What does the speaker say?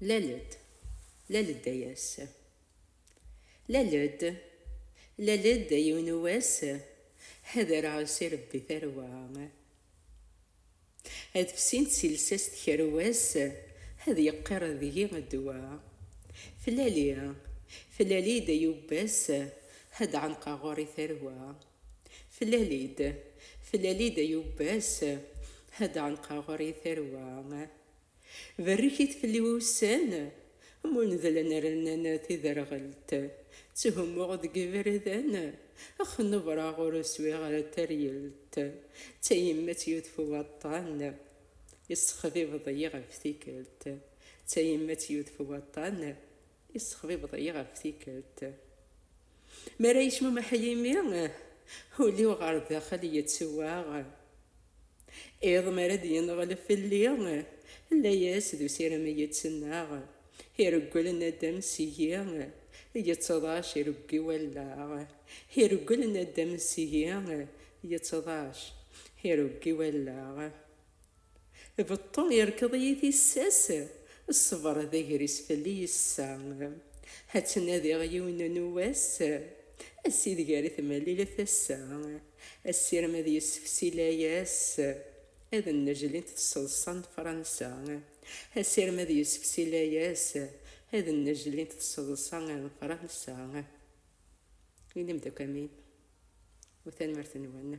Lal-d, lal-d ay ass. Lal-d, lal-d a yiwen n wass, ad areɣ-as i Rebbi tarwa. Ad fsint si lsas tkerwas, ad yeqqir deg-i ddwa. Flali, flali-d ay ubbas, ad ɛenqeɣ ɣur-i tarwa. Tlal-id, tlal-id ay ubbas, ad ɛenqeɣ ɣer i tarwa. Berrek-it fell-i ussan, mundlen rnan tiderɣelt, tthummuɣ deg iberdan, xnebreɣ ur swiɣ ara taryelt, d tayemmat yudef waṭṭan, yessexbibeḍ-iyi ɣef tikkelt, d tayemmat yudef waṭṭan, Yessexbibeḍ-iyi ɣef tikkelt. Mi ara yecmumeḥ yimi, ul-iw ɣer daxel yettwaɣ. Iḍ mi ara d-yenɣel fell-i, layas d usirem i yettnaɣ. Ireggel naddam seg-i, yettḍac ireggi wallaɣ. Ireggel naddam seg-i, yettḍac ireggi wallaɣ. Beṭṭu irkeḍ-iyi tissas, ṣṣber d agris fell-i yessa. Ad ttnadiɣ yiwen n wass, ass ideg ara tmalil tasa, asirem ad yessefsi layas, ad nnejlint tseḍsa n Fransa, asirem ad yessefsi layas, ad nnejlint tseḍsa n Fransa. Inim-d akk amin u tanmirt-nwen.